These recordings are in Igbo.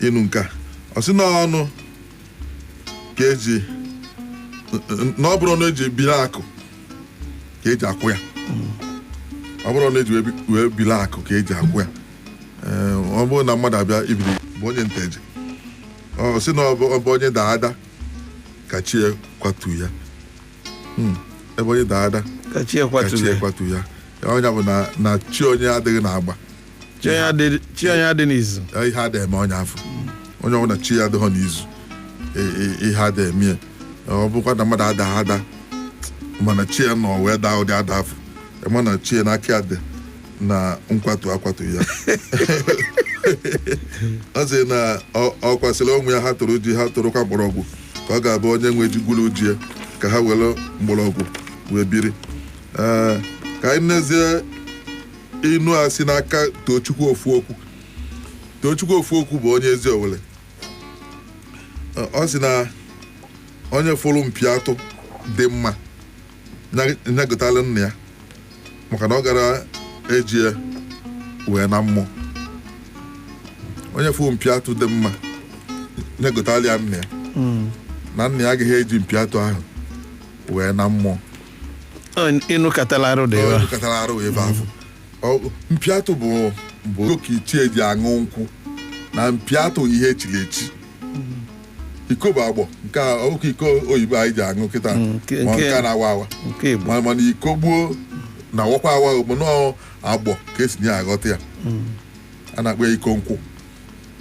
inu nke a ọ sị na ọnụ ka eji na ọ bụrọ ọnụ eji ebiri akụ ka eji akwụ ya ọ bụrọ ọnụ eji wee bi- wee biri akụ ka eji akwụ ya Ee, ọ bụrụ na mmadụ abịa ibiri bụ onye Nteje ọ sị na ọ bụ ebe onye daa ada ka chi ya kwatu ya Hmm, ebe onye daa ada ka chi ka chi ya kwaturu ya ya kwatu ya onye bụ na na chi onye adịghị n'agba chi onye adị- chi onye adị n'izu Eh, ihe ada eme onye afụ onye ọbụla chi ya adịghọ n'izu eh, eh, ihe ada eme ya Eh, ọ bụkwa na mmadụ ada ada mana chi ya nọ wee daa ụdị ada afụ Eh, mana chi ya n'aka ya dị na nkwatu akwatu ya ọ sị na ọ- ọkwa sịrị ụmụ ya ha tụrụ ji ha tụrụkwa mgbọrọgwụ ka ọ ga-abụ onye nwe ji gwuru ji ya ka ha were mgbọrọgwụ wee biri Eh, ka anyị nezie inu a si n'aka Tochukwu Ofuokwu Tochukwu Ofuokwu bụ onye Eziowelle ọ sị na onye fụrụ mpi atụ dị mma nya gotala nna ya maka na ọ gara eji ya wee na mmụọ onye fụrụ mpi atụ dị mma nya gotala ya nna ya na nna ya agaghị eji mpi atụ ahụ wee na mmụọ inu katala arụ dị ebe a. katara arụ ebe afụ Ọ- mpi atụ bụ bụ oke ichie ji aṅụ nkwụ na mpi atụ ihe echiri echi iko bụ agbọ nke a oke iko oyibo anyị ji aṅụ kịta Mm, nke- ma nke- nke a na-awa awa nke Igbo ma mana iko gboo na-awakwa awa ọ bụ n'agbọ ka esi na-aghọta ya a na-akpọ ya iko nkwụ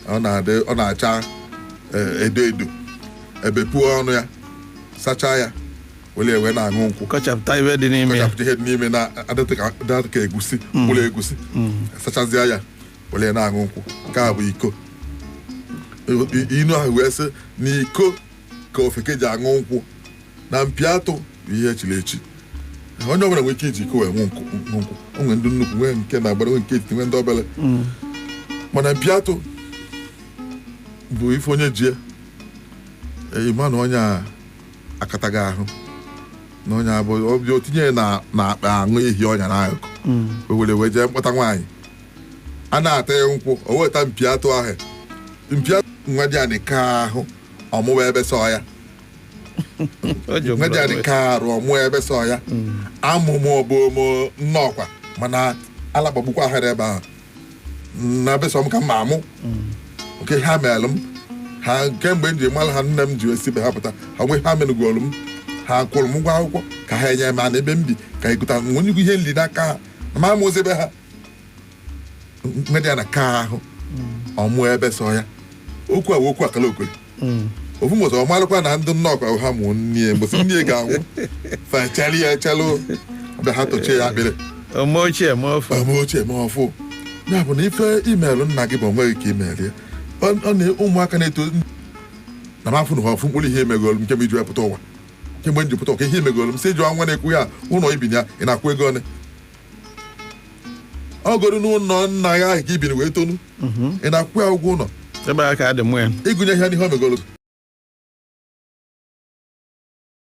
ọ na-adị ọ na-acha eh, edo edo ebepuo ọnụ ya sachaa ya were wee na-aṅụ nkwụ kọchapụta ife dị n'ime ya kọchapụta ihe dị n'ime na-adịtụ ka adịtụ ka egusi mkpụrụ egusi sachazịa ya were ya na-aṅụ nkwụ nke a bụ iko I- inu ahụ wee sị na iko ka ofeke ji aṅụ nkwụ na mpi atụ bụ ihe echiri echi onye ọbụla nwere ike iji iko wee ṅụ nkwụ ṅụ nkwụ. o nwere ndị nnukwu nwee nke na agbara nwee nke etiti nwee ndị obere mana mpi atụ bụ ife onye ji ya ị ma na onye a akatago ahụ na onye a bụ obi o tinye na na akpa anụ ehi ọ nya na akụkụ o were wee jee mkpọta nwaanyị a na-ata ya nkwụ o weta mpi atụ ahụ mpi atụ nwa dị anị ka ahụ ọ mụwa ebe sọ ya nwa dị anị ka arụ ọ mụwa ebe sọ ya amụmụ ọ bụ omo nnọọkwa mana alagbagbukwa ahịrị ebe ahụ na be sọ m ka m ma amụ kee ihe ha meelụ m ha kemgbe m ji mara ha nne m ji esi be ha pụta ha nwe ha megolu m ha kwụrụ m ụgwọ akwụkwọ ka ha enye m ana ebe m bi ka ị gụta nwe nnukwu ihe nri n'aka ha na ma amụzi ebe ha nwedị ya na ka ahụ ọ mụ ebe sọ ya okwu a wee okwu akala okwe ofu mbọsị ọ marụkwa na ndị Nnọkwa ahụ ha mụọ nne mbọsị nne ga-anwụ fechara ya echalụ mgbe ha tochie ya akpịrị ọmụ ochie ma ọfụ ọmụ ochie ma ọfụ ya bụ na ife i meelụ nna gị bụ o nweghị ka i meelụ ya ọ ọ na ụmụaka na-eto na m afụ na ha ofu mkpụrụ ihe i megolu m kemgbe m ji wee pụta ụwa kemgbe m ji pụta ụwa kee ihe i megolu m si jụọ nwa na-ekwu ya ụlọ i bi na ya ị na-akwụ ego one ọ bụrọ n'ụlọ nna ya ahụ ka i bi wee tonu mhm. ị na-akwụ ya ụgwọ ụlọ ị gụnye ihe a n'ihe o megolu